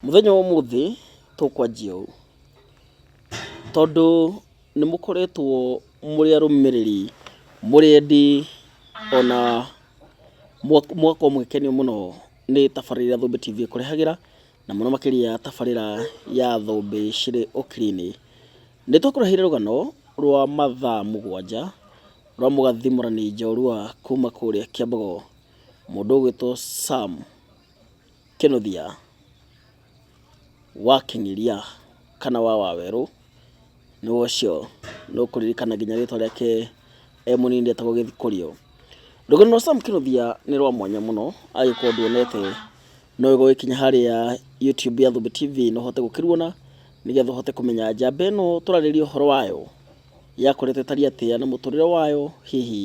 Mũthenya wa ũmũthĩ tũkwanjia ũũ, tondũ nĩ mũkoretwo mũrĩ arũmĩrĩri, mũrĩ endi ona mũgakorwo mũgĩkenio mũno nĩ tabarĩra iria Thũmbĩ TV ĩkũrehagĩra, na mũno makĩria tabarĩra ya Thũmbĩ cirĩ Ũkiri-inĩ. Nĩ tũkũreheire rũgano rwa mathaa mũgwanja rwa mũgathimũrani njorua kuma kũrĩa Kiambogo, mũndũ ũgwĩtwo Sam. Kĩnũthia, wakĩng'eria kana wa wawerũ nĩ wa ũcio, nĩ ũkũririkana nginya rĩtwa rĩake e mũnini rĩetagwo Gĩthikũrio. Rũgano rwa Sam Kĩnũthia nĩ rwa mwanya mũno, angĩkorwo ndũonete no wega ũgĩkinya harĩa YouTube ya Thũmbĩ TV na ũhote gũkĩruona, nĩgetha ũhote kũmenya njamba ĩno tũrarĩrĩria ũhoro wayo yakoretwo ĩtariĩ atĩa na mũtũrĩre wayo hihi.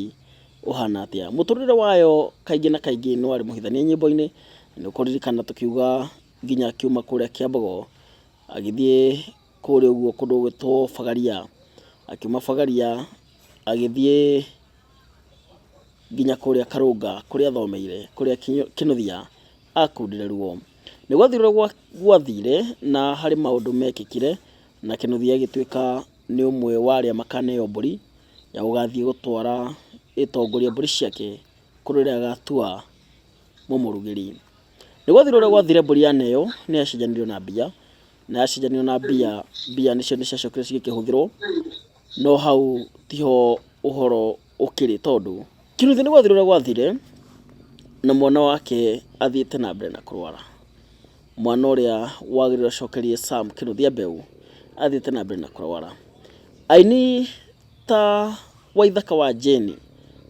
ũhana atĩa. Mũtũrĩre wayo kaingĩ na kaingĩ nĩ warĩ mũhithanie nyĩmbo-inĩ, nĩ ũkũririkana tũkiuga nginya akiuma kũrĩa Kĩambogo agĩthiĩ kũrĩa ũguo kũndũ gwĩtwo Bagaria, akiuma Bagaria agĩthiĩ nginya kũrĩa Karũnga kũrĩa athomeire kũrĩa Kĩnũthia akundire ruo. Nĩ gwathire ũrĩa gwathire na harĩ maũndũ mekĩkire na Kĩnũthia agĩtuĩka nĩ ũmwe wa arĩa makaneo mbũri ya gũgathiĩ gũtwara ĩtongoria mbũri ciake kũrĩ ũrĩa agatua mũmũrugĩri. Nĩ gwathire ũrĩa gwathire mbũri ya neo nĩ yacenjanirio na mbia, na yacenjanio na mbia, mbia nĩcio nĩ ciacokire cigĩkĩhũthĩrwo, no hau tiho ũhoro... ũkĩrĩ tondũ Kinuthia nĩ gwathirũra gwathire na mwana wake athiĩte na mbere na kũrwara. Mwana ũrĩa wagĩrĩirwo acokerie Sam Kinuthia mbeũ athiĩte na mbere na kũrwara. Aini ta Waithaka wa Jane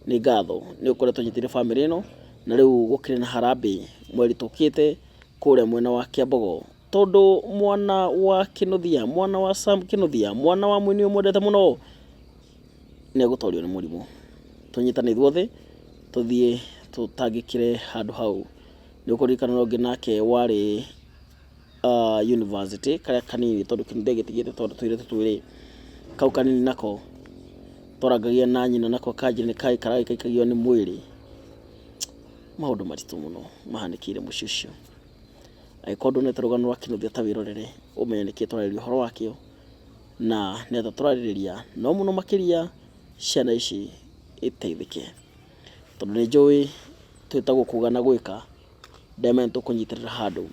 nĩ ngatho nĩ ũkoretwo ũnyitĩrĩire bamĩrĩ ĩno na rĩu gũkĩrĩ na harambĩ mweri tũkĩte kũrĩa mwena wa Kiambogo tondũ mwana wa Kinuthia, mwana wa Sam Kinuthia, mwana wa mũini ũyũ mwendete mũno... nĩ egũtorio nĩ mũrimũ. Tũnyitane ithuothe tũthiĩ tũtangĩkĩre handũ hau. Nĩ ũkũririkana ũrĩa ũngĩ nake warĩ yunibacĩtĩ, karĩa kanini tondũ ndegĩtigĩrĩte tondũ tũirĩtu twĩrĩ, kau kanini nako twarangagia na nyina nako kanjĩra nĩ karĩ karagĩikagio nĩ mwĩrĩ. Maũndũ maritũ mũno mahanĩkĩire mũciĩ ũcio. Agĩkorwo nduonete rũgano rwa kĩnũthĩa ta wĩrorere ũmenye nĩkĩ twararĩrĩria ũhoro wakĩo. Na nĩatĩa tũrarĩrĩria, no mũno makĩria ciana ici iteithĩke. Tondũ nĩnjũĩ twĩtagwo kuga na gwĩka, ndema nĩtũkũnyitĩrĩra handũ.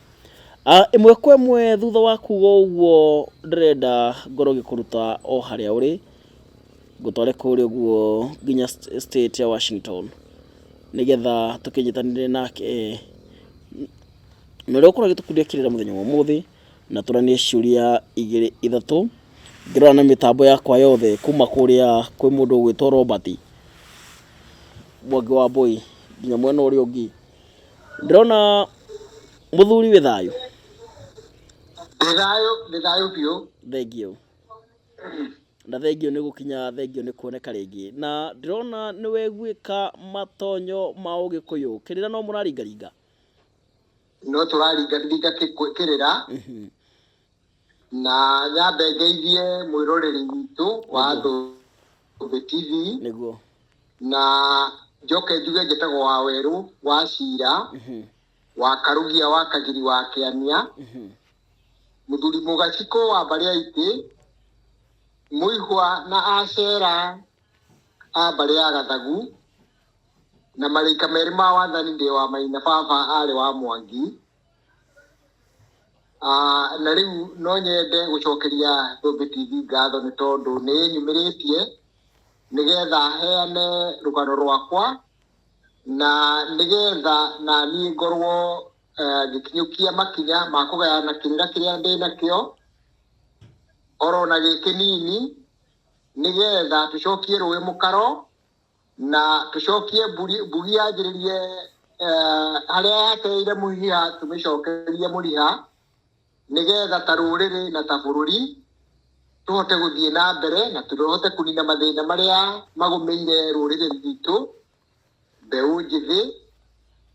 Ĩmwe kwa ĩmwe thutha wa kuga ũguo ndĩrenda ngorwo ngĩkũruta o harĩa ũrĩ, ngũtware kũrĩa ũguo nginya state ya Washington, nĩgetha tũkĩnyitanĩre nake. Na ũrĩa ũgũkorwo ũgĩtũkundia kĩrĩra mũthenya wa ũmũthĩ. na tũranie ciũria igĩrĩ ithatũ ngĩrora na mĩtambo yakwa yothe kuma kũrĩa kwĩ mũndũ ũgwĩtwo Robert Mwangi wa Mbũi nginya mwena ũrĩa ũngĩ ndĩrona mũthuri wĩ thayũ Ndĩthayũ, ndĩthayũ biũ. thengio na thengio nĩ gũkinya thengio nĩ kuoneka rĩngĩ na ndĩrona nĩ weguĩka matonyo ma ũgĩkũyũ kĩrĩra no mũraringaringa no tũraringaringa kĩ- kũ- kĩrĩra Mhm. na nyambe ngeithie mwĩroreri witũ wa andũ Thĩ TV nĩguo na njoke njuge njĩtagwo wa werũ wa cira Mhm. wa karugia wa kagiri wa kĩania Mhm. mũthuri mũgacikũ wa mbarĩ ya itĩ mũihwa na acera a mbarĩ ya gathagu na marĩka merĩ ma wathani ndĩ wa maina baba arĩ wa mwangi Ah, na rĩu no nyende gũcokeria Thũmbĩ TV ngatho nĩ tondũ nĩ ĩnyumĩrĩtie nĩgetha heane rũgano rwakwa na nĩgetha na niĩ ngorwo eh, ngĩkinyũkia makinya ma kũgayana kĩrĩra kĩrĩa ndĩ nakĩo oro na gĩkĩnini nĩgetha tũcokie rũĩ mũkaro Na tũcokie mburi- mbugi yanjĩrĩrie eh, harĩa yateire mũhiha tũmĩcokerie mũriha nĩgetha ta rũrĩrĩ na ta bũrũri tũhote gũthiĩ na mbere na tũhote kũnina mathĩna marĩa magũmĩire rũrĩrĩ rwitũ mbeũ njĩthĩ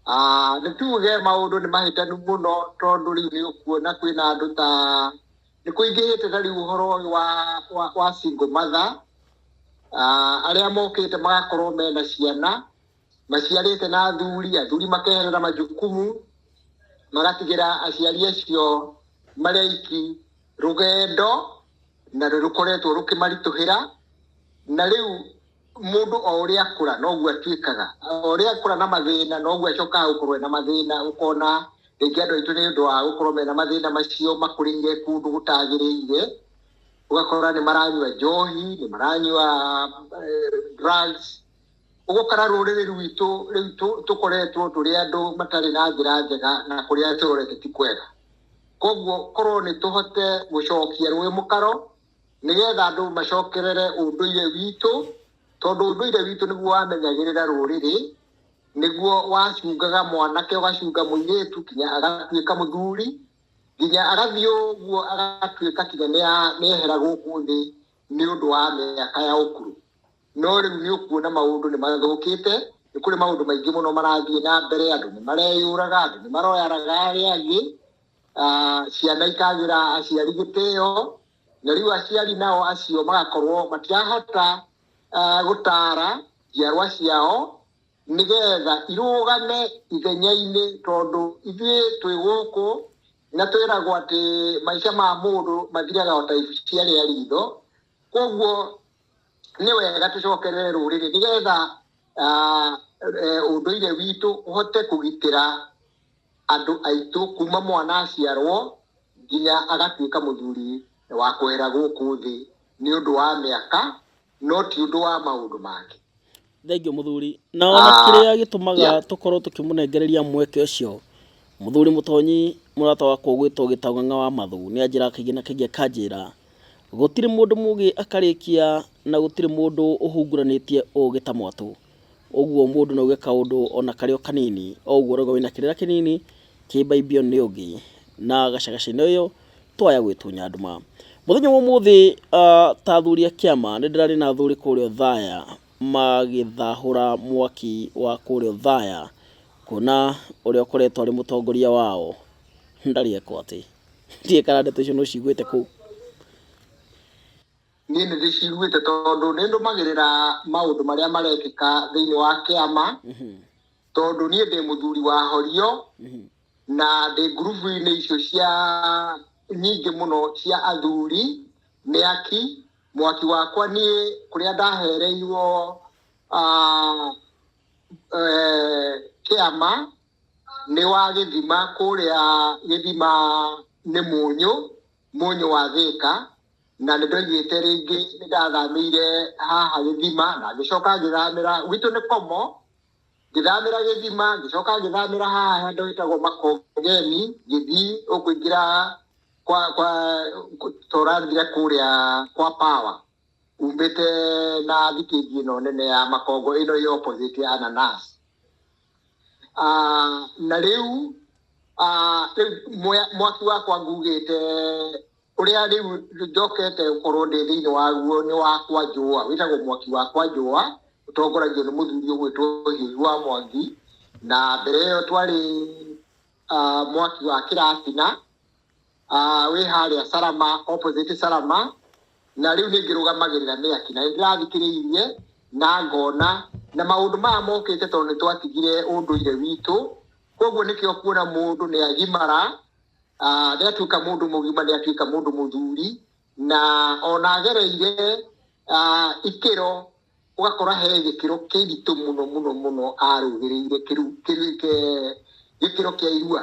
Ah, nĩ tuge maũndũ nĩ mahĩtanu mũno tondũ rĩu nĩ ũkuona kwĩna andũ ta nĩ kũingĩhĩte na rĩu ũhoro ũyũ wa, wa, wa single mother Ah, arĩa mokĩte magakorwo mena ciana maciarĩte na athuri athuri makeherera majukumu magatigĩra aciari acio marĩ aiki rũgendo na nĩ rũkoretwo rũkĩmaritũhĩra na rĩu mũndũ o ũrĩa akũra noguo atuĩkaga o ũrĩa akũra na mathĩna noguo acokaga gũkorwo ena mathĩna ũkona rĩngĩ andũ aitũ nĩ ũndũ wa gũkorwo mena mathĩna macio makũrĩire kũndũ gũtagĩrĩire ũgakora nĩ maranyua njohi nĩ maranyua eh, drugs ũguo kana rũrĩrĩ rwitũ rĩu tũ- tũkoretwo tũrĩ andũ matarĩ na njĩra njega na kũrĩa tũrorete ti kwega koguo korwo nĩ tũhote gũcokia rũĩ mũkaro nĩgetha andũ macokerere ũndũire witũ, tondũ ũndũire witũ nĩguo wamenyagĩrĩra rũrĩrĩ, nĩguo wacungaga mwanake ũgacunga mũirĩtu nginya agatuĩka mũthuri, nginya agathiĩ ũguo agatuĩka nginya nĩa nĩehera gũkũ thĩ nĩ ũndũ wa mĩaka ya ũkũrũ. No rĩu nĩ ũkuona maũndũ nĩ mathũkĩte, nĩ kũrĩ maũndũ maingĩ mũno marathiĩ na mbere, andũ nĩ mareyũraga, andũ nĩ maroyaraga arĩa angĩ, ah, ciana ikagĩra aciari gĩtĩo na rĩu aciari nao acio magakorwo matirahota ah, gũtara njiarwa ciao nĩgetha irũgame ithenya-inĩ tondũ ithuĩ twĩ gũkũ na twĩragwo atĩ maica ma mũndũ mathiraga o ta icia rĩa ritho koguo nĩ wega tũcokerere rũrĩrĩ nĩgetha ah, eh, ũndũire witũ ũhote kũgitĩra andũ aitũ kuuma mwana aciarwo nginya agatuĩka mũthuri wa kwehera gũkũ thĩ nĩ ũndũ wa mĩaka no ti ũndũ wa maũndũ mangĩ. Thengiũ mũthuri. Na ona ah, kĩrĩa gĩtũmaga tũkorwo tũkĩmũnengereria mweke ũcio mũthuri mũtonyi mũrata wakwa ũgwĩtwo gĩtagang'a wa mathu nĩ anjĩra kaingĩ na kaingĩ akanjĩra gũtirĩ mũndũ mũgĩ akarĩkia na gũtirĩ mũndũ ũhunguranĩtie ũgĩ ta mwatũ. Ũguo mũndũ no auge kaũndũ ona karĩ o kanini, o ũguo ũrauga wĩna kĩrĩra kĩnini, kĩmbaimbio nĩ ũngĩ, na gacagaca-inĩ ũyũ, twaya gwĩtunya nduma. Mũthenya wa ũmũthĩ ah, ta athuri a kĩama, nĩ ndĩrarĩ na athuri kũrĩa Othaya magĩthahũra mwaki wa kũrĩa Othaya, kuona ũrĩa ũkoretwo arĩ mũtongoria wao ndarĩ eka atĩ. Ndiũĩ kana ndeto icio nĩ ũciguĩte kũu. niĩ nĩ ndĩciguĩte tondũ nĩ ndũmagĩrĩra maũndũ marĩa marekĩka thĩinĩ wa kĩama tondũ niĩ ndĩ mũthuri wa horio na ndĩ ngurubu-inĩ icio cia nyingĩ mũno cia athuri nĩ aki mwaki wakwa niĩ kũrĩa ndahereirwo ah, eh, kĩama nĩ wa gĩthima kũrĩa gĩthima nĩ mũnyũ Mũnyũ wa Thĩka, na nĩ ndoigĩte rĩngĩ nĩ ndathamĩire haha Gĩthima, na ngĩcoka ngĩthamĩra, gwitũ nĩ Komo, ngĩthamĩra Gĩthima, ngĩcoka ngĩthamĩra haha handũ hetagwo Makongeni, ngĩthiĩ o kũingĩra kwa, kwa, ta ũrathire kũrĩa kwa Power, umĩte na thitĩnji ĩno nene ya Makongo ĩno ĩ opposite ya Ananasi. Ah, na rĩu ah, rĩu mwe- mwaki wakwa ngugĩte ũrĩa rĩu njokete gũkorwo ndĩ thĩinĩ waguo nĩ wakwa njũa wĩtagwo mwaki wakwa njũa ũtongoragio nĩ mũthuri ũgwĩtwo hiũi wa mwangi na mbere ĩyo twarĩ ah, mwaki wa kĩratina Ah, wĩ harĩa Salama, opposite Salama, na rĩu nĩ ngĩrũgamagĩrĩra mĩaki na nĩ ndĩrathikĩrĩirie na ngona na maũndũ maya mokĩte tondũ nĩ twatigire ũndũire witũ koguo nĩkĩo kuona mũndũ nĩ agimara ah, nĩ atuĩka mũndũ mũgima nĩ atuĩka mũndũ mũthuri na ona agereire ah, ikĩro ũgakora he gĩkĩro kĩritũ mũno mũno mũno arũgĩrĩire kĩru- kĩru- ke- gĩkĩro kĩa irua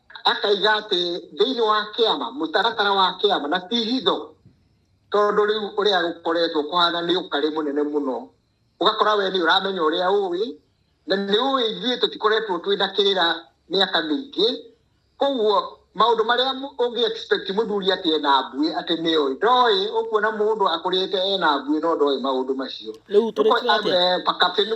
akaiga atĩ thĩinĩ wa kĩama mũtaratara wa kĩama na ti hitho tondũ rĩu ũrĩa gũkoretwo kũhana nĩ ũkarĩ mũnene mũno ũgakora we nĩ ũramenya ũrĩa ũĩ na nĩ ũĩ ithuĩ tũtikoretwo twĩ na kĩrĩra mĩaka mĩingĩ koguo maũndũ marĩa mũ- ũngĩ expect mũthuri atĩ ena mbuĩ atĩ nĩ oĩ ndoĩ ũkuona mũndũ akũrĩte ena mbuĩ no ndoĩ maũndũ macio Rĩu tũrĩkire atĩa? Pakapeni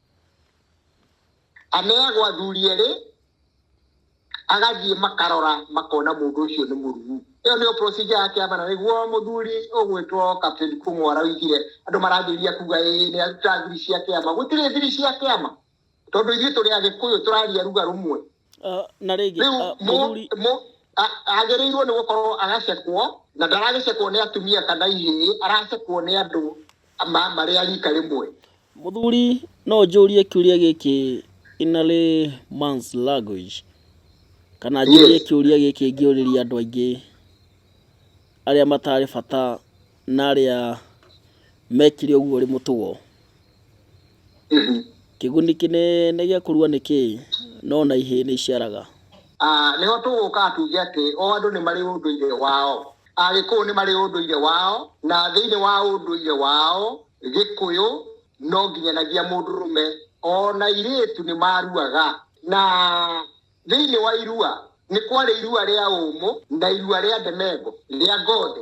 aneagwo athuri erĩ agathiĩ makarora makona mũndũ ũcio nĩ mũrugu ĩyo nĩyo procedure ya kĩama na nĩguo mũthuri ũgwĩtwo captain kũmũ araugire andũ marambĩrĩria kuga ĩ nĩ aruta thiri cia kĩama gũtirĩ thiri cia kĩama tondũ ithuĩ tũrĩ agĩkũyũ tũraria ruga rũmwe Ah, na rĩngĩ rĩu ah, mũ- mũthuri mũ- a- agĩrĩirwo nĩ gũkorwo agacekwo na ndaragĩcekwo nĩ atumia kana ihĩĩ aracekwo nĩ andũ ma- marĩ a rika rĩmwe mũthuri no njũrie kĩũria gĩkĩ in a layman's language kana njũrie Yes. kĩũria gĩkĩ ngĩũrĩria andũ aingĩ arĩa matarĩ bata na arĩa mekire ũguo ũrĩ mũtugo Mhm. Kĩguni kĩnene gĩa kũrua nĩ kĩĩ, no na ihĩĩ nĩ iciaraga? Ah, nĩho tũgũũka tuuge atĩ o andũ nĩ marĩ ũndũire wao. Agĩkũyũ nĩ marĩ ũndũire wao, na thĩinĩ wa ũndũire wao, Gĩkũyũ, no nginyanagia mũndũrũme o na airĩĩtu nĩ maaruaga. Na thĩinĩ wa irua, nĩ kwarĩ irua rĩa ũũmũ, na irua rĩa ndemengo, rĩa ngothi,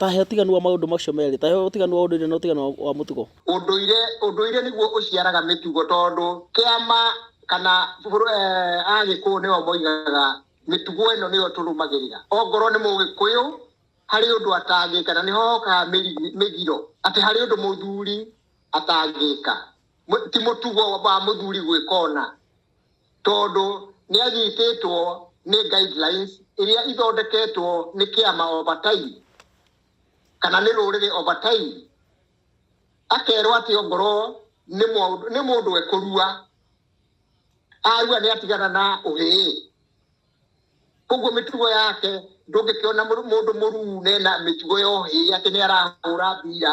Ta he ũtiganu wa maũndũ macio merĩ, ta he ũtiganu wa ũndũire na ũtiganu wa mũtugo. Ũndũire, ũndũire nĩguo ũciaraga mĩtugo tondũ kĩama kana Agĩkũyũ nĩo moigaga mĩtugo ĩno nĩyo tũrũmagĩrĩra. Ongorwo nĩ Mũgĩkũyũ harĩ ũndũ atangĩka na nĩho hokaga mĩgiro atĩ harĩ ũndũ mũthuri atangĩka, ti mũtugo wa mũthuri gwĩka ũna. Tondũ nĩ anyitĩtwo nĩ guidelines iria ithondeketwo nĩ kĩama over time kana nĩ rũrĩrĩ over time, akerwo atĩ ongorwo nĩ mũndũ, nĩ mũndũ ekũrua, arua nĩ atigana na ũhĩĩ. Koguo mĩtugo yake ndũngĩkĩona mũndũ mũruu na ena mĩtugo ya ũhĩĩ atĩ nĩ arahũra mbira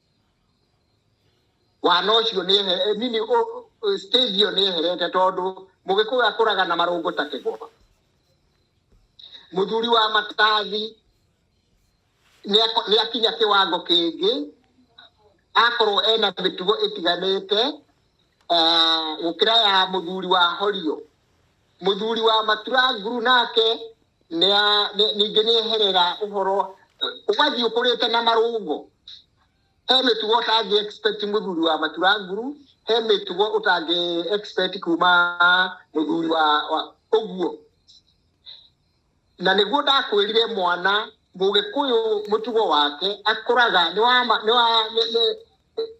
wana ũcio nĩ ehe- eh, nini ũ- ũ- stage ĩyo nĩ eherete tondũ mũgĩkũyũ akũraga na marũngũ ta kĩgoma mũthuri wa matathi nĩako- nĩakinya kĩwango kĩngĩ akorwo ena mĩtugo ĩtiganĩte eh, gũkĩra ya mũthuri wa horio Mũthuri wa Maturanguru nake nĩa- nĩ- ningĩ nĩ eherera ũhoro ũgathiĩ ũkũrĩte na marũngo he mĩtugo ũtangĩ expect mũthuri wa Maturanguru he mĩtugo ũtangĩ expect kuma mũthuri wa wa- ũguo na nĩguo ndakwĩrire mwana mũgĩkũyũ mũtugo wake akũraga nĩ wa ma- nĩ wa- nĩ- nĩ-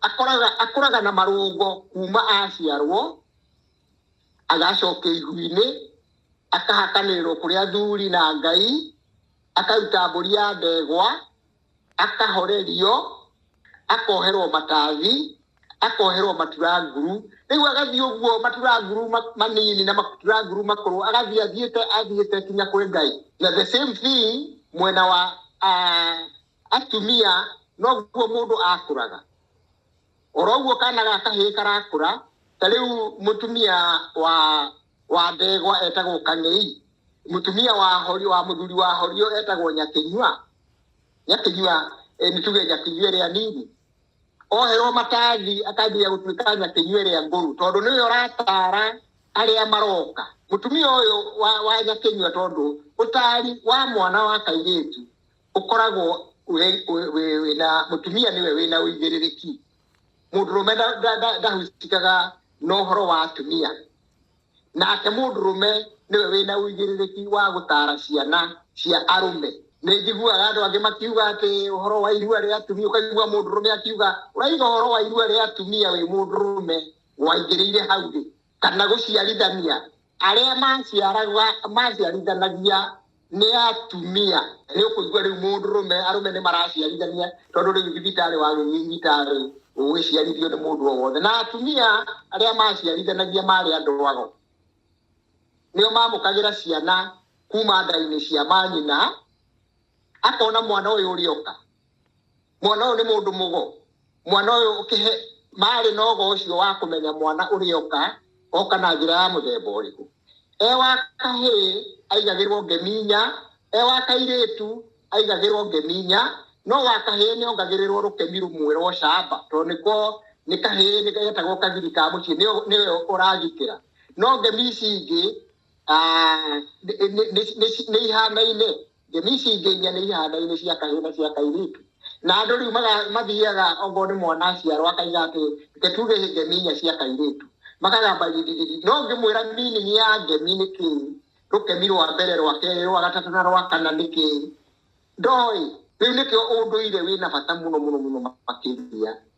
akũraga akũraga na marũngo kuma aciarwo agacoka iguinĩ akahakanĩrĩrwo kũrĩ athuri na ngai akaruta mbũri ya ndegwa akahorerio akoherwo matathi akoherwo maturanguru rĩu agathiĩ ũguo maturanguru ma- manini na maturanguru makũrũ agathiĩ athiĩte athiĩte kinya kwĩ ngai na the same thing mwena wa ah, atumia noguo mũndũ akũraga oroguo kana ga kahĩĩ karakũra ta rĩu mũtumia wa wa ndegwa etagwo kang'ei mũtumia wa hori wa mũthuri wa horio etagwo nyakĩnyua nyakĩnyua eh, nĩ tuge nyakĩnyua ĩrĩa nini oherwo matathi akambia gũtuĩka nyakĩnyua ĩrĩa ngũrũ tondũ nĩwe ũratara arĩa maroka mũtumia ũyũ wa, wa nyakĩnyua tondũ ũtari wa mwana wa kairĩtu ũkoragwo wĩ- wĩ- wĩ- wĩna mũtumia nĩwe wĩna ũigĩrĩrĩki mũndũrũme nda- nda- nda- ndahusikaga na ũhoro wa atumia nake mũndũrũme nĩwe wĩna ũigĩrĩrĩki wa gũtara ciana cia arũme nĩ njiguaga andũ angĩ makiuga atĩ ũhoro wa irua rĩa atumia ũkaigua mũndũrũme akiuga ũraiga ũhoro wa irua rĩa atumia wĩ mũndũrũme waingĩrĩire hau rĩ kana gũciarithania arĩa maciaraga maciarithanagia nĩ atumia nĩ ũkũigua rĩu mũndũrũme arũme nĩ maraciarithania tondũ rĩu thibitarĩ wagĩthiĩ thibitarĩ ũgĩciarithio nĩ mũndũ o wothe na atumia arĩa maciarithanagia marĩ andũ ago nĩo mamũkagĩra ciana kuma nda-inĩ cia manyina akona mwana ũyũ ũrĩoka mwana ũyũ nĩ mũndũ mũgo mwana ũyũ ũkĩhe marĩ na ũgo ũcio wa kũmenya mwana ũrĩa oka oka na njĩra ya mũthemba ũrĩkũ e wa kahĩ aigagĩrwo ngeminya e wa kairĩtu aigagĩrwo ngeminya no wa kahĩ nĩ ongagĩrĩrwo rũkemi rũmwe rwa ũcamba tondũ nĩko nĩ kahĩ nĩ getagwo kagiri ka mũciĩ nĩyo nĩyo ũragitĩra no ngemi ici ingĩ nĩ ihanaine thiomi ici ingĩ inya nĩ ihanaine cia kahĩĩ na cia kairĩtu na andũ rĩu mathiaga okorwo nĩ mwana aciarwo akaiga atĩ reke tuge thiomi inya cia kairĩtu makagamba gidididi no ngĩmwĩra meaning ya ngemi nĩ kĩĩ rũkemi rwa mbere rwa kerĩ rwa gatatũ na rwa kana nĩ kĩĩ ndoĩ rĩu nĩkĩo ũndũire wĩna bata mũno mũno mũno makĩria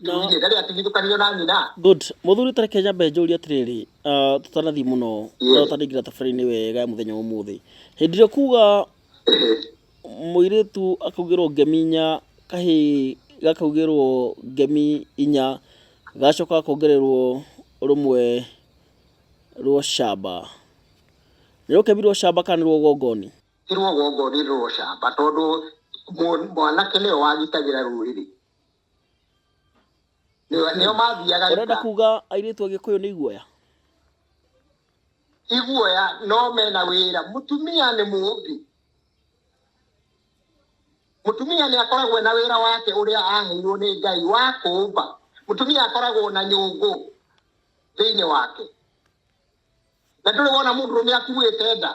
No- kiuinĩ ndarĩ atigithũkanio na nyina good mũthuri tareke nyambe njũrie atĩrĩrĩ ah, tũtanathiĩ mũno Yeah. no tandĩngira thabarĩ-inĩ wega ya mũthenya wa ũmũthĩ hĩndĩ ĩrĩa kuga mũirĩtu akaugĩrwo ngemi inya kahĩ gakaugĩrwo ngemi inya gacoka gakongererwo rũmwe rwo camba nĩ rũkemi rwo camba kana nĩ rwo gongoni tirwo gongoni rũrocamba tondũ mũ- mwanake nĩwe wagitagĩra rũrĩrĩ Nĩo- nĩo mathiaga ũrenda ita. kuga airĩtu agĩkũyũ nĩ iguoya iguoya no mena wĩra mũtumia nĩ mũũmbi mũtumia nĩ akoragwo na wĩra wake ũrĩa aheirwo nĩ ngai wa kũũmba mũtumia akoragwo na nyũngũ thĩinĩ wake na ndũrĩ wona mũndũrũme akuĩte nda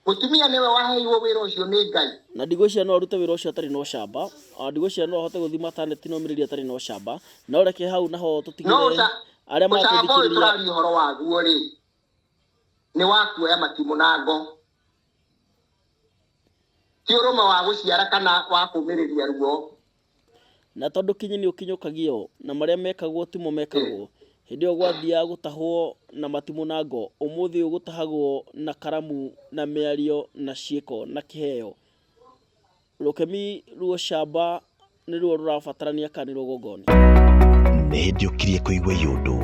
Mũtumia nĩwe waheirwo wĩra ũcio nĩ Ngai. Na ndigwĩciria no arute wĩra ũcio atarĩ na ũcamba. O na ndigwĩciria no ahote gũthiĩ mataneti na ũmĩrĩria atarĩ na ũcamba. No reke hau na ho No tũtigĩre ũca, arĩa ũcamba ũyũ maratũthikĩrĩria. tũraria ũhoro waguo-rĩ, nĩ wa kuoya matimũ na ngo. Ti ũrũme wa gũciara kana wa kũmĩrĩria ruo. Na tondũ kinyi nĩ ũkinyũkagio, na marĩa mekagwo timo mekagwo, hĩndĩ ĩyo gwathiaga gũtahwo na matimũ na ngo, ũmũthĩ ũyũ gũtahagwo na karamu na mĩario na ciĩko na kĩheo. Rũkemi rw'ũcamba nĩruo rũrabatarania kana nĩruo gongoni. Nĩ hĩndĩ ũkirie kũigua iyũndũ,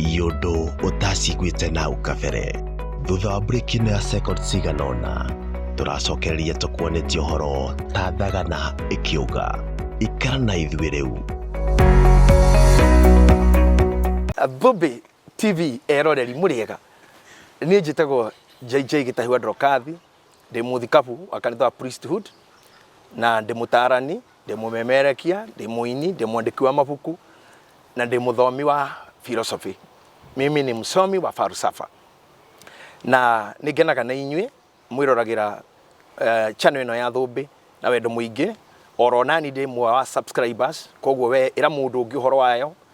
iyũndũ ũtaciguĩte nahau kabere. thutha wa break ino ya second cigana ũna tũracokereria tũkuonĩtie ũhoro ta thagana ĩkĩũga ikara na ithuĩ rĩu Bubi TV eroreri mũrĩega nĩ njĩtagwo JJ Gĩtahiwa Ndokathi ndĩ mũthikabu wa kanitha wa priesthood na ndĩ mũtaarani ndĩ mũmemerekia ndĩ mũini ndĩ mwandĩki wa mabuku na ndĩ mũthomi wa philosophy mimi ni msomi wa falsafa na nĩ ngenaga na inyuĩ mwĩroragĩra eh, channel ĩno ya thũmbĩ na wendo mũingĩ oro nani ndĩ mwe wa subscribers koguo we ĩra mũndũ ũngĩ ũhoro wayo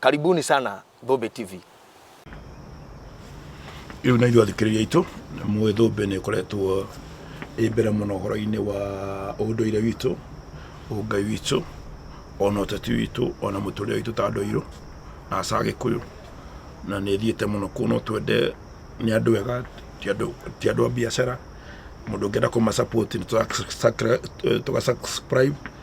Karibuni sana Thũmbĩ TV. Rĩu na ithuĩ athikĩrĩria aitũ mũĩ Thũmbĩ nĩ ĩkoretwo ĩ mbere mũno ũhoro-inĩ wa ũndũire witũ ũngai witũ ona ũteti witũ ona mũtũrĩre witũ ta andũ airũ na aca gĩkũyũ na nĩ ĩthiĩte mũno kũu no twende nĩ andũ ega ti andũ- ti andũ a biacara mũndũ ũngĩenda kũma support nĩ tũra- tũga subscribe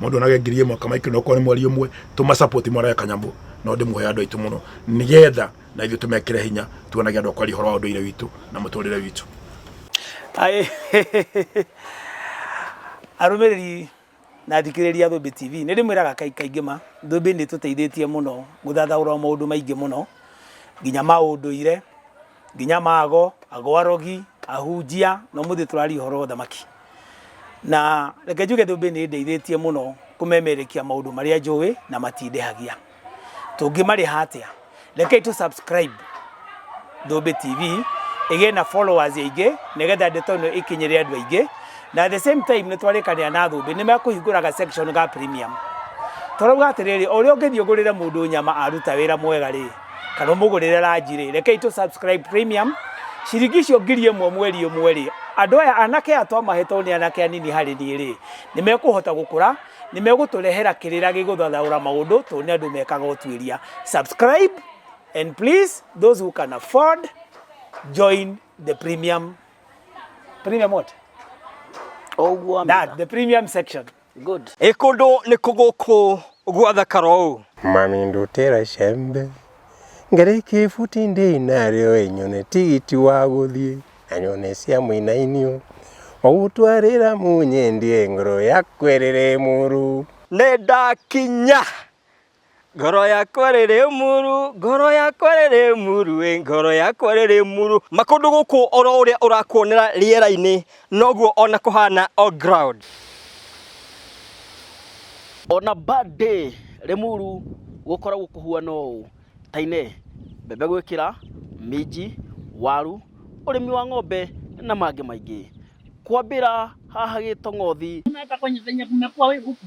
mundu onage ngiri imwe kama ikiri okorwo ni mweri umwe tuma support mwarae kanyamu no ndimuhe andu aitu muno nigetha na ithu tumekire hinya tuonage andu akwari horo wa unduire witu na muturire witu Aĩ. arũmĩrĩri na athikĩrĩria thũmbĩ tv nĩ ndĩmwĩraga kai- kaingĩ ma thũmbĩ nĩ tũteithĩtie mũno gũthathaũra maũndũ maingĩ mũno nginya maũndũire nginya mago ago arogi ahunjia no muthi turaria horo wa thamaki na reke njuge thumbi ni ndeithĩtie mũno kũmemerekia maũndũ marĩa njũĩ na matindehagia tũngĩmarĩha atĩa rekei tũ subscribe thumbi tv ĩgĩe na followers aingĩ nĩgetha ndeto ĩno ĩkinyĩre andũ aingĩ na at the same time nĩ twarĩkanĩra na thumbi nĩ mekũhingũraga section ga premium tũrauga atĩrĩrĩ o ũrĩa ũngĩthiĩ ũgũrĩre mũndũ nyama aruta wĩra mwega rĩ kana ũmũgũrĩre ranji rĩ rekei tũ subscribe premium ciringi icio ngiri ĩmwe mweri ũmwe rĩ andũ aya anake aya twamahetwo nĩ anake anini harĩ niĩ rĩ nĩ mekũhota gũkũra nĩ megũtũrehera kĩrĩra gĩgũthathaũra maũndũ tondũ nĩ andũ mekaga ũtuĩria subscribe and please those who can afford join the premium premium what? Ũguo that the premium section Good. Ĩkũndũ nĩ kũgũkũ gwathakara ũũ. Mami ndutĩra icembe ngarĩkia ibuti ndĩ narĩo ĩnyone tigiti wa gũthiĩ na nyone cia mũinainio ogũtwarĩra mũnyendie ngoro yakwerere mũrũ nĩ ndakinya Ngoro yakwa rĩrĩ muru, ngoro yakwa rĩrĩ muru, ĩ ngoro yakwa rĩrĩ muru. Makũndũ gũkũ oro ũrĩa ũrakuonera rĩera-inĩ noguo ona kũhana on ground. On a bad day Limuru gũkoragwo kũhuana ũũ, Tainee, mbembe gwĩkĩra, minji, waru, ũrĩmi wa ng'ombe na mangĩ maingĩ. Kwambĩra haha Gĩtong'othi, Kumekuwa we huku.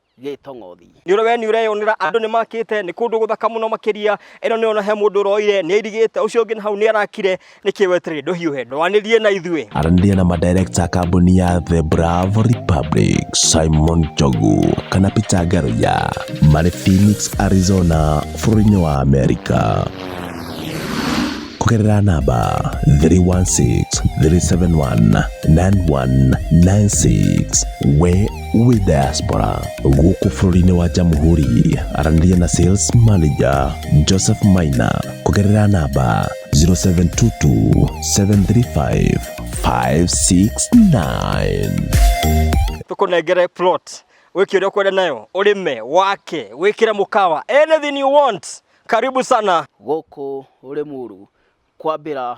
gĩtong'othi. Nĩũrĩ we nĩũreyonera andũ nĩmakĩte, nĩ kũndũ gũthaka mũno makĩria, ĩno nĩũrona he mũndũ ũroire, nĩairigĩte, ũcio ũngĩ nahau nĩarakire, nĩkĩ wetereire, ndũhiũhe, ndwanĩrie na ithuĩ. Aranĩria na madirector a kambuni ya The Bravo Republic, Simon Njogu kana Peter Ngaruiya, marĩ Phoenix, Arizona, bũrũri-inĩ wa Amerika kũgerera namba 316 371 9196 we wĩ diaspora gũkũ bũrũri-inĩ wa jamhuri aranĩria na sales manager joseph maina kũgerera namba 0722735569 tũkũnengere plot wĩke ũrĩa ũkwenda nayo ũrĩme wake wĩkĩre mũkawa anything you want karibu sana gũkũ Rĩmuru kwambĩra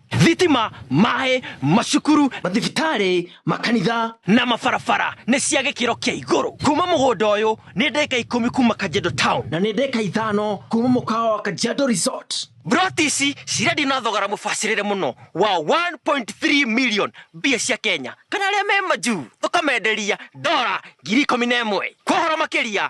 thitima, maĩ, macukuru, mathibitarĩ, makanitha na mabarabara nĩ cia gĩkĩro kĩa igũrũ. Kuma mũgũnda ũyũ nĩ ndeka ikũmi kuma Kajiado Town na nĩ ndeka ithano kuma mũkawa wa Kajiado Resort. Mburoti ici cirendio na thogora mũbacĩrĩre mũno wa 1.3 million mbia cia Kenya kana arĩa me majuu tũkamenderia ndora ngiri ikũmi na ĩmwe. Kwa ũhoro makĩria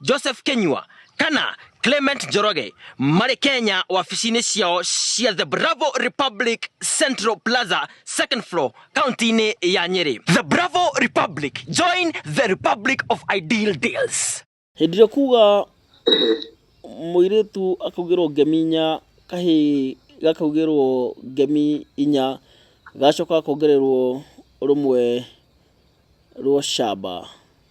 Joseph Kenyua kana Clement Njoroge marĩ Kenya wabici-inĩ ciao cia The Bravo Republic Central Plaza second floor kaunti-inĩ ya Nyeri. The Bravo Republic, join the Republic of Ideal Deals. Hĩndĩ ĩrĩa kuga mũirĩtu akaugĩrwo ngemi inya kahĩ gakaugĩrwo ngemi inya gacoka kongererwo rũmwe rwa camba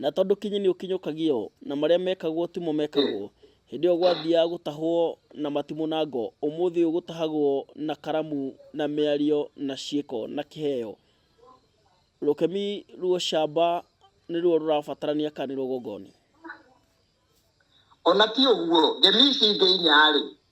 Na tondũ kinyi nĩ ũkinyũkagio, na marĩa mekagwo timo mekagwo, hĩndĩ ĩyo gwathiaga gũtahwo na matimũ na ngo, ũmũthĩ ũyũ gũtahagwo na karamu na mĩario na ciĩko na kĩheo. Rũkemi rwa ũcamba nĩruo rũrabatarania kana nĩruo gongoni. O na ti ũguo, ngemi ici ingĩ inya-rĩ.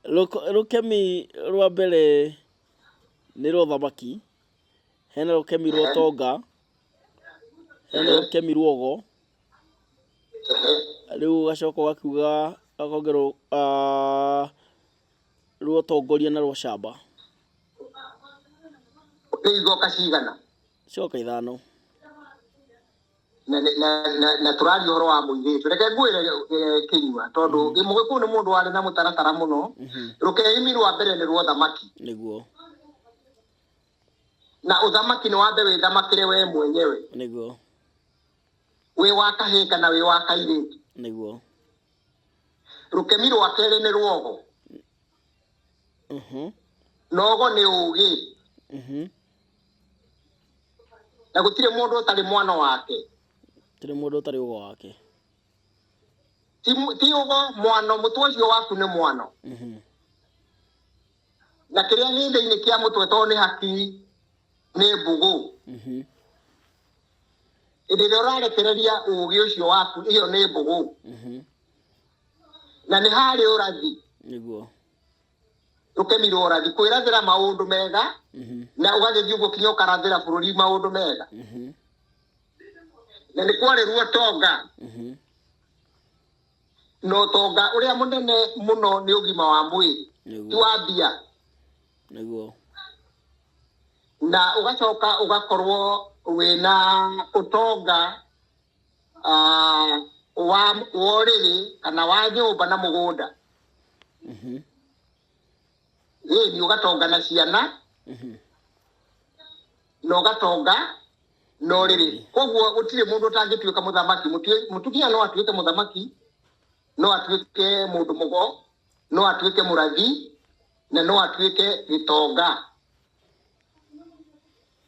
Rũk- Rũkemi rwa mbere nĩ rwa ũthamaki, hena rũkemi rwa ũtonga, hena rũkemi rwa ũgo, rĩu ũgacoka ũgakiuga akongerwo ah, rwa ũtongoria na rwa ũcamba. Nĩ igoka cigana? coka ithano na na- na- na- na tũraria ũhoro wa mũirĩtu reke ngwĩre eh, kĩnyua tondũ mũgĩkũyũ nĩ mũndũ warĩ na mũtaratara mũno rũkehimi rwa mbere nĩ rwa ũthamaki nĩguo na ũthamaki nĩ wambe wĩthamakĩre wee mwenyewe nĩguo wĩ wa kahĩĩ kana wĩ wa kairĩtu nĩguo rũkemi rwa kerĩ nĩ rwogo nogo nĩ ũgĩ na gũtirĩ mũndũ ũtarĩ mwana wake gũtirĩ mũndũ ũtarĩ ũgo wake ti ũgo mwano mũtwe ũcio waku nĩ mwano na kĩrĩa gĩ thĩinĩ kĩa mũtwe tondũ nĩ hakiri nĩ mbũgũ hĩndĩ ĩrĩa ũrarekereria ũgĩ ũcio waku ĩyo nĩ mbũgũ na nĩ harĩ ũrathi nĩguo ndũkemirwo ũrathi kwĩrathĩra maũndũ mega Mhm, na ũgagĩthiĩ ũguo kinya ũkarathĩra bũrũri maũndũ mega mhm, na nĩ kwarĩruo tonga mhm. na ũtonga ũrĩa mũnene mũno nĩ ũgima wa mwĩrĩ ti nĩguo wa mbia nĩguo na ũgacoka ũgakorwo wĩna ũtonga ah, wa wa ũrĩrĩ kana wa nyũmba na mũgũnda Mhm. ĩni ũgatonga na ciana Mhm. na ũgatonga na ũrĩrĩ koguo gũtirĩ mũndũ ũtangĩtuĩka mũthamaki Mũtue- mũtumia no atuĩke mũthamaki no atuĩke mũndũ mũgo no atuĩke mũrathi na no atuĩke gĩtonga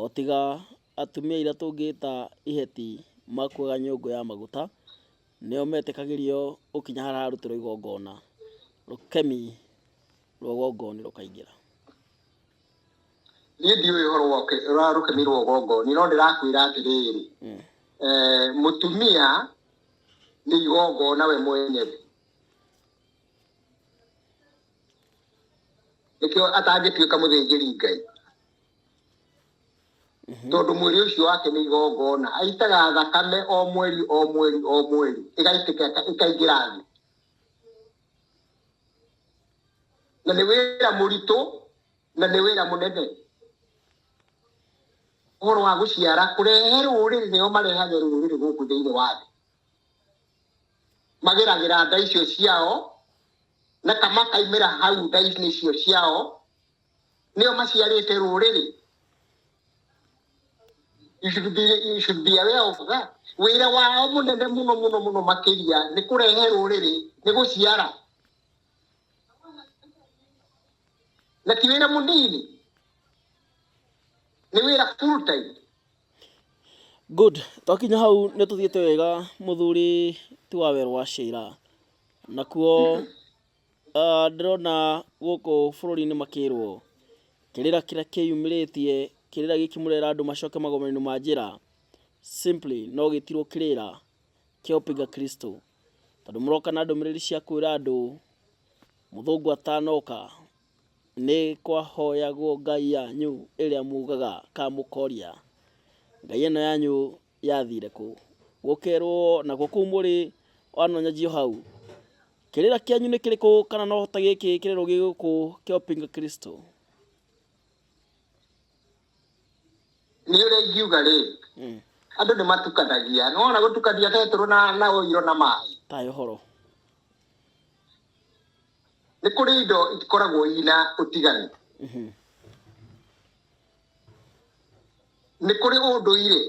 O tiga atumia arĩa tũngĩta iheti makuaga nyũngũ ya maguta, nĩo metĩkagĩrio gũkinya harĩa hararutĩrwo igongona, rũkemi rwa ũgongoni rũkaingĩra. Niĩ ndiũĩ ũhoro wa rũkemi rwa ũgongoni, no ndĩrakwĩra atĩrĩrĩ, mũtumia nĩ igongona we mwenyewe. nĩkĩo atangĩtuĩka mũthĩnjĩri ngai tondũ mwĩrĩ ũcio wake nĩ igongona aitaga thakame o mweri o mweri o mweri ĩgaitĩka ĩka- ĩkaingĩra thĩ na nĩ wĩra mũritũ na nĩ wĩra mũnene ũhoro wa gũciara kũrehe rũrĩrĩ nĩo marehaga rũrĩrĩ gũkũ thĩinĩ wa thĩ mageragĩra nda icio ciao na kamakaimĩra hau nda-inĩ icio ciao nĩo maciarĩte rũrĩrĩ You should be, you should be aware of that. wĩra wao mũnene mũno mũno mũno makĩria nĩ kũrehe rũrĩrĩ nĩ gũciara na ti wĩra mũnini nĩ wĩra full time Good, twakinya hau nĩ tũthiĩte wega mũthuri ti wa werũ wa Sheila. Nakuo ah, ndĩrona gũkũ bũrũri-inĩ makĩrwo kĩrĩra kĩrĩa kĩyumĩrĩtie kĩrĩra gĩkĩ mũrera andũ macoke magomero-inĩ ma njĩra simply no gĩtirwo kĩrĩra kĩa ũpinga Kristo. Tondũ mũroka na ndũmĩrĩri cia kwĩra andũ mũthũngũ atanoka Nĩ kwahoyagwo ngai yanyu ĩrĩa mugaga kamũkoria. Ngai ĩno yanyu yathire kũ? Gũkerwo nakuo kũu mũrĩ wanonyajio hau. Kĩrĩra kĩanyu nĩ kĩrĩkũ kana no ta gĩkĩ kĩrĩro gĩgũkũ kĩa ũpinga Kristo? Nĩ ũrĩa ingiuga rĩ, hmm. andũ nĩ matukanagia. Nĩ wona gũtukania betũrũ na ũirũ na maĩ. Tayo horo. nĩ kũrĩ indo ikoragwo ina ũtiganu nĩ kũrĩ ũndũire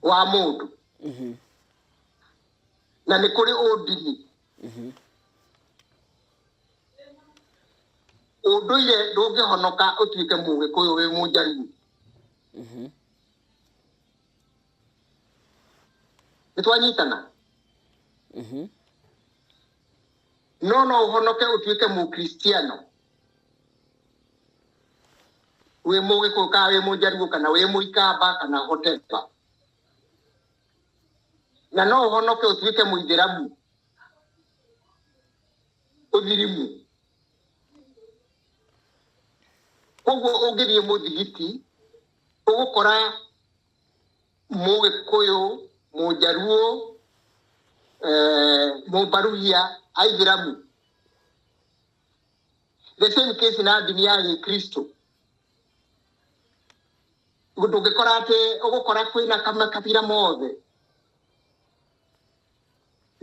wa mũndũ na nĩ kũrĩ ũndini ũndũire ndũngĩhonoka ũtuĩke mũgĩkũyũ wĩ mũnjaruo nĩ twanyitana no no ũhonoke ũtuĩke mũkristiano wĩ mũgĩkũyũ kana wĩ mũjaruo kana wĩ mũikamba kana hoteva na no ũhonoke ũtuĩke mũithĩramu ũthirimu koguo ũngĩthiĩ mũthigiti Ũgũkora Mũgĩkũyũ, Mũjaluo, eh, Mũmbaruhia, Aithĩramu. The same case na ndini ya Gĩkristo. Ndũngĩkora atĩ ũgũkora kwĩna makabira mothe.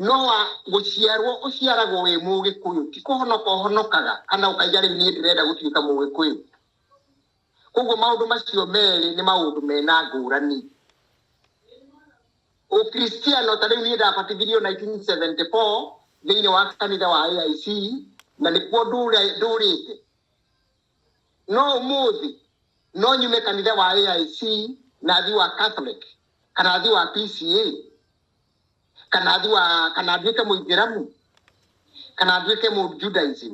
No wa gũciarwo ũciaragwo wĩ Mũgĩkũyũ, ti kũhonoka ũhonokaga kana ũkaiga rĩu niĩ ndĩrenda gũtuĩka Mũgĩkũyũ. koguo maũndũ macio merĩ nĩ maũndũ mena ngũrani ũkristiano ta rĩu niĩ ndabatithirio 1974 thĩinĩ wa kanitha wa aic na nĩkuo ndũre- ndũrĩte no ũmũthĩ no nyume kanitha wa aic na thi wa catholic kana thi wa pca kana thi wa kana nduĩke mũithĩramu kana nduĩke mũjudaism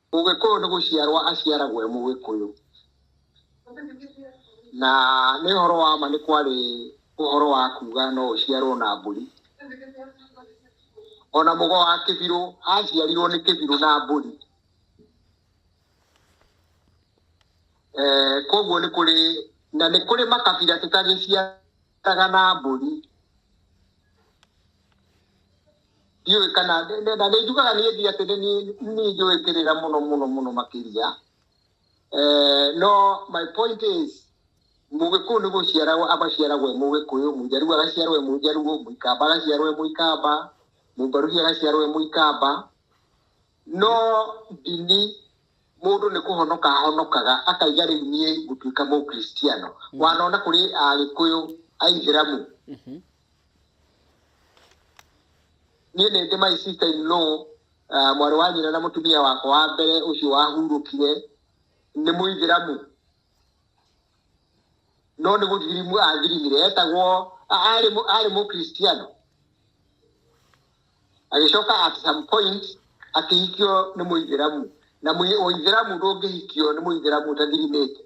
Mũgĩkũyũ nĩ gũciarwo aciaragwo e Mũgĩkũyũ. Na nĩ ũhoro wa ma nĩ kwarĩ ũhoro wa kuuga no ũciarwo na mbũri. O na mũgo wa kĩbirũ aciarirwo nĩ kĩbirũ na mbũri. Kwoguo nĩ kũrĩ, na nĩ kũrĩ makabira tũtagĩciaragwo. taga na mbũri ndiũĩ kana na nĩ njugaga niĩ ndi atĩ nĩ niĩ njũĩ kĩrĩra mũno mũno mũno makĩria eh, no my point is mũgĩkũyũ nĩ gũciaragwo amaciaragwo e mũgĩkũyũ mũjaruo agaciarwo e mũjaruo mũikamba agaciarwo e mũikamba mũmbaruhi agaciarwo e mũikamba No ndini mũndũ nĩ kũhonoka ahonokaga akaiga rĩu niĩ ngũtuĩka mũkristiano mm. wanona kũrĩ agĩkũyũ aithĩramu mm -hmm. niĩ nĩ ndĩ my sister in law uh, mwarĩ wa nyina na mũtumia wakwa wa mbere ũcio wahurũkire nĩ mũithĩramu no nĩ gũthirimu athirimire etagwo arĩ mũkristiano agĩcoka at some point akĩhikio nĩ mũithĩramu na mũithĩramu ndũngĩhikio nĩ mũithĩramu ũtathirimĩte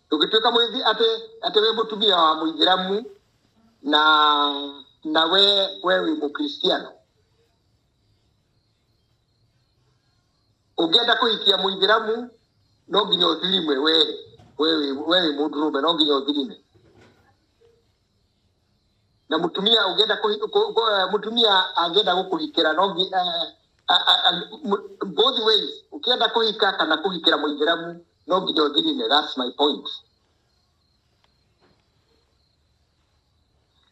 ndũngĩtuĩka mũithi atĩ atĩ wĩ mũtumia wa mũithĩramu na na we we wĩ mũkristiano ũngĩenda kũhikia mũithĩramu no nginya ũthirimwe we we wĩ mũndũrũme no nginya ũthirime na mutumia ungienda ku, ku, ku, eh, mutumia angienda gukuhikira no ngi- eh, a- a- a- mu- both ways ukienda kuhika kana kuhikira muithiramu no nginya uthirine that's my point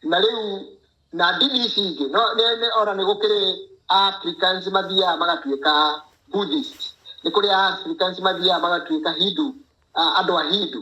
na riu na ndini ici ingĩ no nĩ- nĩ- ona nĩ gũkĩrĩ africans mathiaga magatuĩka buddhist nĩ kũrĩ africans mathiaga magatuĩka hindu ah, andũ a hindu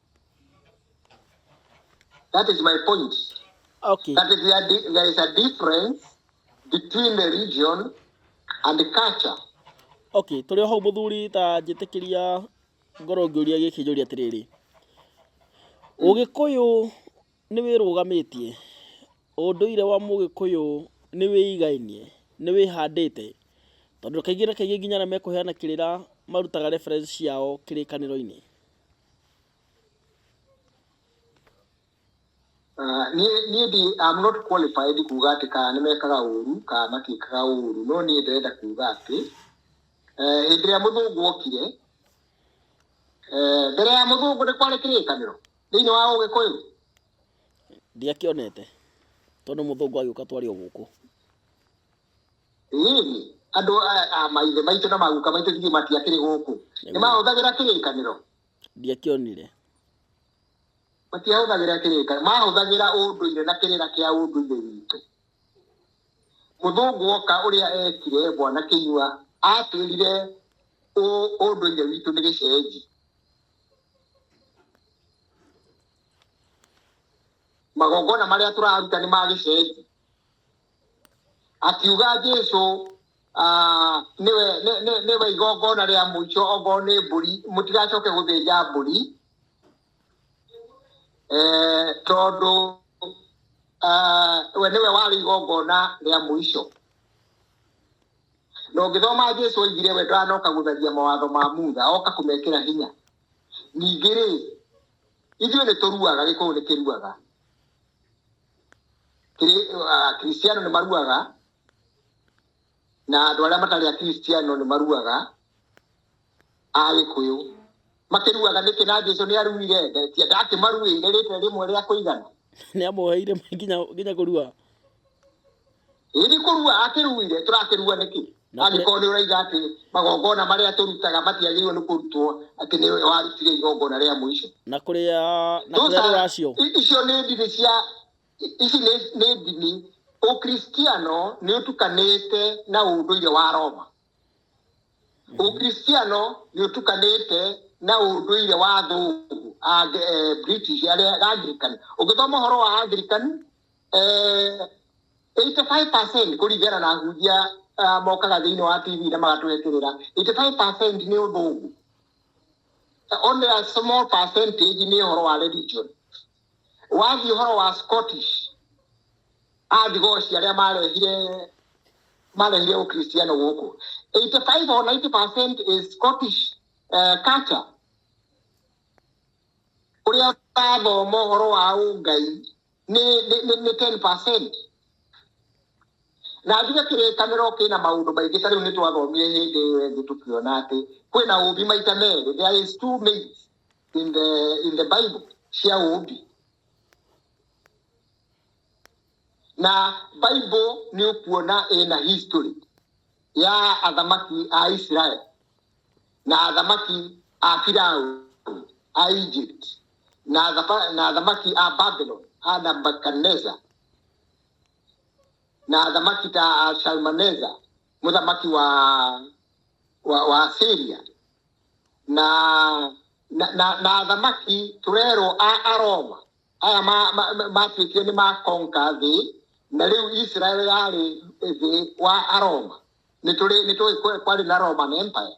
That is my point. Okay. That is there, di- there is a difference between the region and the culture. okay tũrĩ o hau mũthuri ta njĩtĩkĩria ngorwo ngĩũria gĩkĩ njũria atĩrĩrĩ ũgĩkũyũ nĩ wĩrũgamĩtie ũndũire wa mũgĩkũyũ nĩ wĩigainie nĩ wĩhandĩte tondũ kaingĩ na kaingĩ nginya arĩa mekũheana kĩrĩra marutaga reference ciao kĩrĩkanĩro-inĩ Ah, niĩ niĩ ndi I'm not qualified kuga atĩ kana nĩ mekaga ũru kana matiĩkaga ũru no niĩ ndĩrenda kuga atĩ eh, hĩndĩ ĩrĩa mũthũngũ okire eh, mbere ya mũthũngũ nĩ kwarĩ kĩrĩkanĩro thĩinĩ wa ũgĩkũyũ ndiakĩonete tondũ mũthũngũ agĩũka twarĩ o gũkũ rĩrĩ andũ aya a maithe maitũ na maguka maitũ ithuĩ matiakĩrĩ gũkũ nĩ mahũthagĩra kĩrĩkanĩro ndiakĩonire matiahũthagĩra kĩrĩkanĩro mahũthagĩra ũndũire na kĩrĩra kĩa ũndũire witũ mũthũngũ oka ũrĩa ekire bwana kĩnyua atwĩrire ũ- ũndũire witũ nĩ gĩcenji magongona marĩa tũraruta nĩ ma gĩcenji akiuga jesu ah, nĩwe nĩ- nĩ- nĩwe igongona rĩa mũico okorwo nĩ mbũri mũtigacoke gũthĩnja mbũri eh, tondũ ah, we nĩwe warĩ igongona rĩa mũico na ũngĩthoma jesu oigire we ndanoka gũtharia mawatho ma mutha oka kũmekĩra hinya ningĩ rĩ ithuĩ nĩ tũruaga gĩkũyũ nĩ kĩruaga akristiano nĩ maruaga na andũ arĩa matarĩ akristiano nĩ maruaga a gĩkũyũ makĩruaga nĩkĩ na jesu nĩ aruire ndakĩmaruĩire rĩte rĩmwe rĩa kũigana nĩ amũheire nginya nginya kũrua Ĩĩ nĩ kũrua akĩruire, tũrakĩrua nĩkĩ? Na kũrĩ- Angĩkorwo nĩ ũraiga atĩ magongona marĩa tũrutaga matiagĩrĩirwo nĩ kũrutwo atĩ nĩ we warutire igongona rĩa mũico. na kũrĩa na kũrĩa Those are- rũracio i- icio nĩ ndini cia i- ici nĩ nĩ ndini ũkristiano nĩ ũtukanĩte na ũndũire wa roma ũkristiano nĩ ũtukanĩte na ũndũire wa thũngũ Ange- eh, british arĩa angirikani ũngĩthoma ũhoro wa angirikani eh, 85% kũringana na ahunjia ah, mokaga thĩinĩ wa tv na magatweterera 85% nĩ ũthũngũ only a small percentage nĩ ũhoro wa religion wathiĩ ũhoro wa scottish athigoci arĩa marehire marehire ũkristiano gũkũ 85 or 90 percent is scottish uh, culture ũrĩa ũrathoma ũhoro wa ũngai nĩ nĩ- nĩ- nĩ 10 na njuge kĩrĩkanĩro kĩna maũndũ maingĩ ta rĩu nĩ twathomire hĩndĩ ĩyo ĩngĩ tũkiona atĩ kwĩna ũũmbi maita merĩ there is two means in the, in the bible cia ũũmbi na bible nĩ ũkuona ĩna history ya athamaki a israel na athamaki a firaũ a egypt na athaba- na athamaki a babylon a nabukadaneza na athamaki ta a shalmaneza mũthamaki wa wa, wa asiria na na, na, na athamaki tũrerwo a aroma aya matuĩkire ma, ma, matuĩkire nĩ makonka thĩ na rĩu israel yarĩ thĩ wa aroma nĩ tũrĩ nĩ tũĩ kwe- kwarĩ na roman empire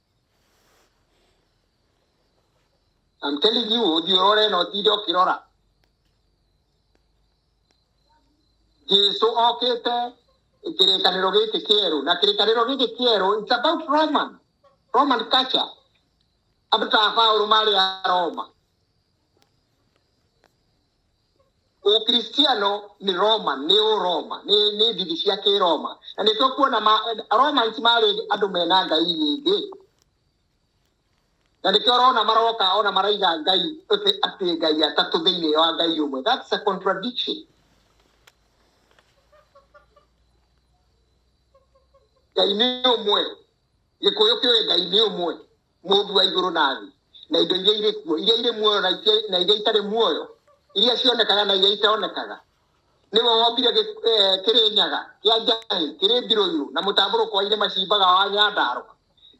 I'm telling you, ũthiĩ ũrore na ũtinde ũkĩrora. Jesu okĩte kĩrĩkanĩro gĩkĩ kĩerũ na kĩrĩkanĩro gĩkĩ kĩerũ it's about Roman Roman culture. Andũ ta Paulo marĩ a Roma ũkristiano nĩ roma nĩ ũroma nĩ nĩ ndini cia kĩroma na nĩ tũkuona ma- romans marĩ andũ mena ngai nyingĩ na nĩkĩo ũrona maroka ona maraiga ngai atĩ atĩ ngai atatũ thĩinĩ wa ngai ũmwe that's a contradiction ngai nĩ ũmwe gĩkũyũ kĩũĩ ngai nĩ ũmwe Mũũmbi wa igũrũ na thĩ, na indo iria irĩ kuo, iria irĩ muoyo na itia- na iria itarĩ muoyo, iria cionekaga na iria itonekaga. Nĩwe wombire gĩ- eh, kĩrĩnyaga kĩa njahĩ, kĩrĩ mbirũirũ, na mũtambũrũko wa irĩma ciimbaga wa nyandarũa.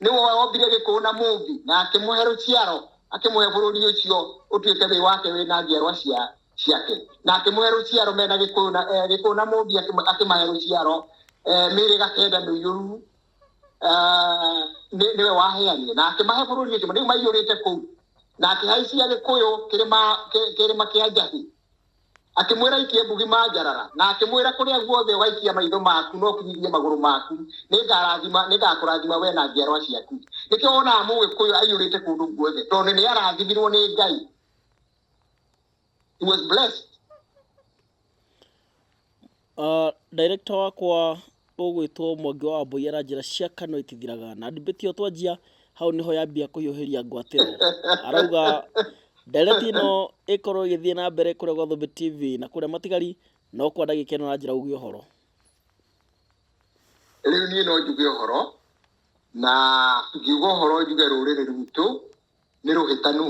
Nĩwe wombire gĩkũũ na mũũmbi, na akĩmũhe rũciaro, akĩmũhe bũrũri ũcio ũtuĩke wĩ wake wĩ na njiarwa cia- ciake. Na akĩmũhe rũciaro mena gĩkũyũ na- eh, gĩkũũ na mũũmbi akĩma- akĩmahe rũciaro, eh, mĩĩrĩga kenda mĩiyũru, Ah, nĩ- nĩwe waheanire na akĩmahe bũrũri ũcio kĩrĩma rĩu maiyũrĩte kũu na akĩhaicia gĩkũyũ kĩrĩma kĩ- kĩrĩma kĩa njahi akĩmwĩra ikie mbugi manjarara na akĩmwĩra kũrĩa guothe ũgaikia maitho maku no kinyithie magũrũ maku nĩngarathima nĩngakũrathima we na njiarwa ciaku nĩkĩo wonaga mũgĩkũyũ aiyũrĩte kũndũ guothe tondũ nĩ arathimirwo nĩ ngai He was blessed. Uh, director wakwa ũgwĩtwo Mwangi wa Wambũi aranjĩra cia kanua itithiraga na ndibĩti ĩyo twanjia hau nĩho yambia kũhiũhĩria ngwatĩro arauga ndereti ĩno ĩkorwo ĩgĩthiĩ na mbere kũrĩa gwa Thũmbĩ TV na kũrĩa matigari no kwa ndagĩka ĩno aranjĩra uge ũhoro rĩu niĩ no njuge ũhoro na ngiuga ũhoro njuge rũrĩrĩ rwitũ nĩ rũhĩtanu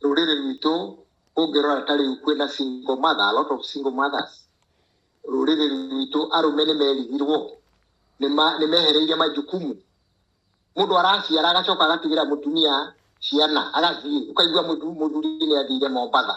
rũrĩrĩ rwitũ ũngĩrora ta rĩu kwĩna single mother, a lot of single mothers rũrĩrĩ rwitũ arũme nĩ merigirwo nĩ ma- nĩ mehereire majukumu mũndũ araciara agacoka agatigĩra mũtumia ciana agathiĩ ũkaigua mũthu- mũthuri nĩ athire mombatha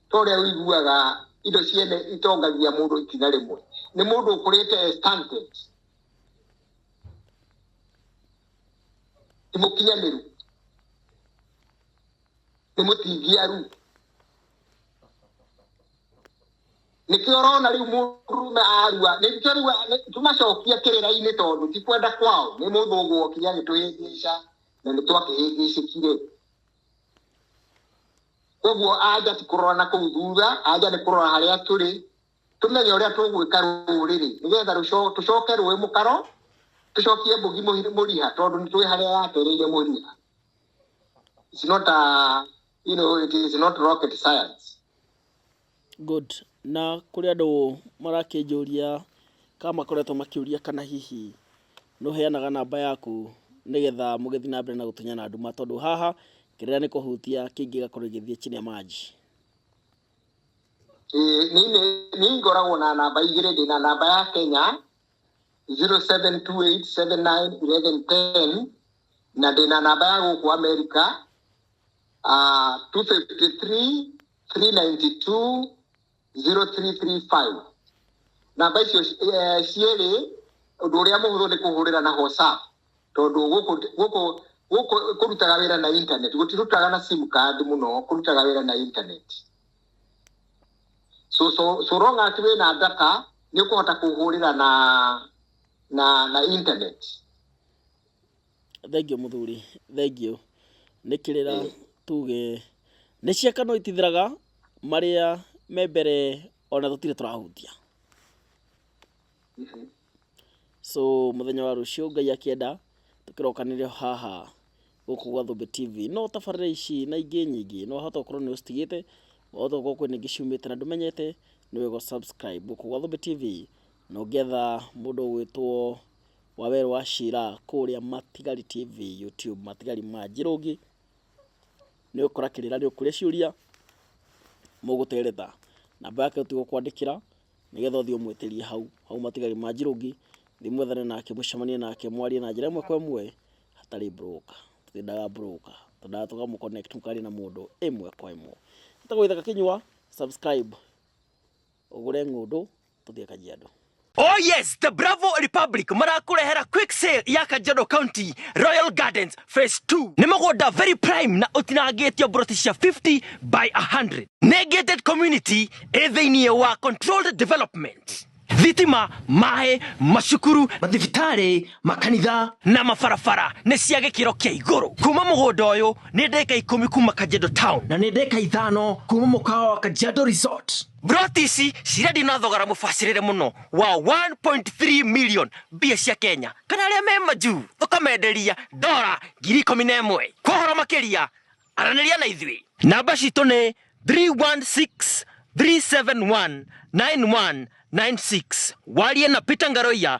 ta ũrĩa ũiguaga indo ciene itongagia mũndũ ikinya rĩmwe nĩ mũndũ ũkũrĩte stunted ti mũkinyanĩru nĩ mũtingiaru nĩkĩo ũrona rĩu mũndũrume arua nĩkĩo rĩu nĩ- tũmacokia kĩrĩra-inĩ tondũ ti kwenda kwao nĩ mũndũ ũgwokinya nĩ twĩhĩngĩca na nĩ twakĩhĩngĩcĩkire koguo anja ti kũrora na kũu thutha anja nĩ kũrora harĩa tũrĩ tũmenye ũrĩa tũgwĩka rũrĩrĩ nĩgetha rũco- tũcoke rũĩ mũkaro tũcokie mbũgi mũhi- mũriha tondũ nĩ tũĩ harĩa yatereire mũriha It's not a, you know, it is not rocket science Good. Na kũrĩ andũ marakĩnjũria kana makoretwo makĩũria kana hihi nĩ ũheanaga namba yaku nĩgetha mũgĩthiĩ na mbere na gũtunyana nduma tondũ haha kĩrĩa nĩ kũhutia kĩngĩ gĩgakorwo gĩgĩthiĩ chini ya maji. Niĩ ngoragwo na namba igĩrĩ, ndĩ na namba ya Kenya 0728791110 na ndĩ na namba ya gũkũ Amerika 253 three ninety two zero three three five namba icio eh, cierĩ ũndũ ũrĩa mũhũthũ nĩ kũhũrĩra na whatsapp tondũ gũkũ gũkũ gũkũ kũrutaga wĩra na internet gũtirutaga na sim card mũno kũrutaga wĩra na internet so so so long as wĩna data nĩ ũkũhota kũhũrĩra na na na internet Thengiũ mũthuri, thengiũ. Nĩ kĩrĩra tuge nĩ ciaka no itithiraga marĩa me mbere ona tũtirĩ tũrahutia. So mũthenya wa rũciũ Ngai akĩenda tũkĩrokanĩrĩra haha gũkũ gwa Thũmbĩ TV. No tabarĩra ici na ingĩ nyingĩ no wahota gũkorwo nĩ ũcitigĩte, wahota gũkorwo kwĩna ingĩ ciumĩte na ndũmenyete, nĩ wega ũ subscribe gũkũ gwa Thũmbĩ TV na ũngĩetha mũndũ ũgwĩtwo... Waweer wa Sheela kũrĩa Matigari TV YouTube, Matigari ma Njĩrũngĩ. Nĩ ũgũkora kĩrĩra nĩ ũkũria ciũria mũgũtereta. Namba yake ũtigwo kwandĩkĩra nĩgetha ũthiĩ ũmwĩtĩrie hau hau Matigari ma Njĩrũngĩ, thiĩ mwethane nake mũcemanie nake mwarie na njĩra ĩmwe kwa ĩmwe hatarĩ broker. Twendaga broker, twendaga tũkamũ connect mũkaria na mũndũ ĩmwe kwa ĩmwe. Nĩ tũgũgũthaitha gakĩnyua subscribe ũgũre ng'ũndũ tũthiĩ kajiado Oh yes, the Bravo Republic marakurehera quick sale ya Kajiado County Royal Gardens Phase 2. Nĩ mũgũnda very prime na ũtinangĩtio broti cia 50 by 100. Nĩ gated community ĩ thĩinĩ wa controlled development. Thitima, maĩ, macukuru, mathibitarĩ, makanitha na mabarabara nĩ cia gĩkĩro kĩa igũrũ. Kuma mũgũnda ũyũ nĩ ndeka ikũmi kuma Kajiado Town na nĩ ndeka ithano kuma mũkawa wa Kajiado Resort. Broti ici cirendio na thogora mũbacĩrĩre mũno wa 1.3 million mbia cia Kenya kana arĩa me majuu ũkamenderia dora ngiri ikũmi na ĩmwe kwa ũhoro makĩria aranĩria na ithuĩ namba citũ nĩ 316 371 9196 warie na Peter Ngaroia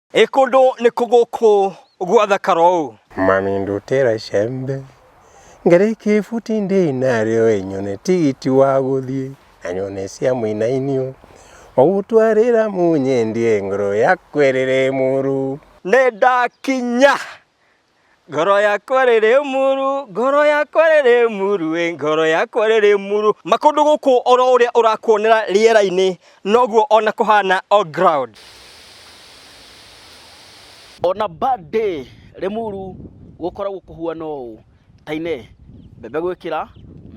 Ĩ kũndũ nĩ kũ gũkũ gwathakara ũũ? Mami ndutĩra icembe ngĩrĩ kĩbuti ndĩ narĩo ĩnyone tigiti wa gũthiĩ na nyone cia mũinainio ũgũtwarĩra mũnyendie ngoro yakwa ĩrĩrĩ mũrũ. Nĩndakinya Ngoro yakwa rĩrĩ muru, ngoro yakwa rĩrĩ muru, ĩ ngoro yakwa rĩrĩ muru. Makũndũ gũkũ oro ũrĩa ũrakuonera rĩera-inĩ noguo ona kũhana on ground. On a bad day Limuru gũkoragwo kũhuana ũũ, Tainee, mbembe gwĩkĩra,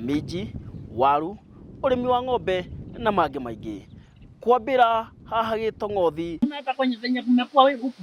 minji, waru, ũrĩmi wa ng'ombe na mangĩ maingĩ. Kwambĩra haha Gĩtong'othi, Umeenda kwenye venye kumekuwa weguku.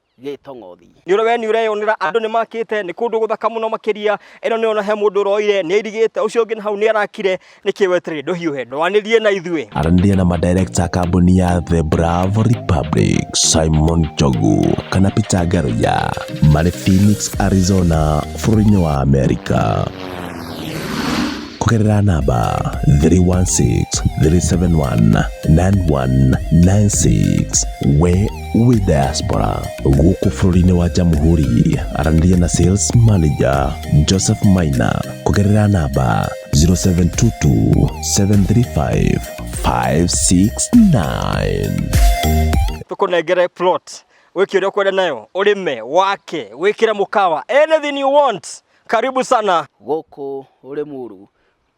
gä tong'othi. Nĩ ũrĩ we nĩ ũreyonera andũ nĩ makĩte nĩ kũndũ gũthaka mũno makĩria ĩno nĩ ona he mũndũ ũroire nĩ airigĩte ũcio ũngĩ na hau nĩ arakire nĩkĩ weterere ndũhiũhe ndwanĩrie na ithuĩ aranĩria na madirekta a kambuni ya The Bravo Republic Simon Njogu kana Peter Ngaruya marĩ Phoenix, Arizona bũrũri-inĩ wa Amerika kũgerera namba 316 371 9196 we wĩ diaspora gũkũ bũrũri-inĩ wa jamhuri aranĩria na sales manager joseph maina kũgerera namba 0722735569 tũkũnengere plot wĩke ũrĩa ũkwenda nayo ũrĩme wake wĩkĩre mũkawa anything you want karibu sana gũkũ Rĩmuru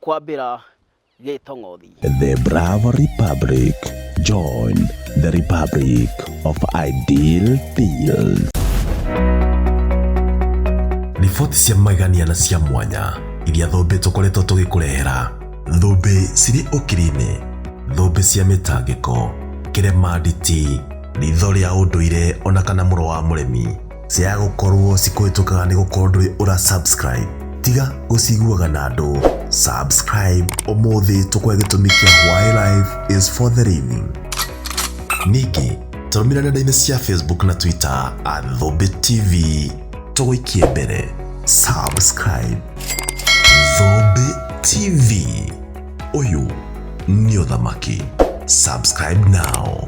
kwambĩra gĩtong'othi. The Bravo Republic. Join the Republic of Ideal Fields. Riboti cia magegania na cia mwanya iria thũmbĩ tũkoretwo tũgĩkũrehera. Thũmbĩ cirĩ ũkiri-inĩ, thũmbĩ cia mĩtangĩko, kĩremanditi, ritho rĩa ũndũire ona kana mũro wa mũremi. Cia gũkorwo cikũhĩtũkaga nĩ gũkorwo ndũrĩ ũra subscribe. Tiga gũciguaga na andũ. Subscribe ũmũthĩ tũkwe gĩtũmi kĩa why life is for the living. Ningĩ tũrũmĩrĩra nenda-inĩ cia Facebook na Twitter at Thũmbĩ TV. Tũgũikie mbere. Subscribe. Thũmbĩ TV. Ũyũ nĩ ũthamaki. Subscribe now.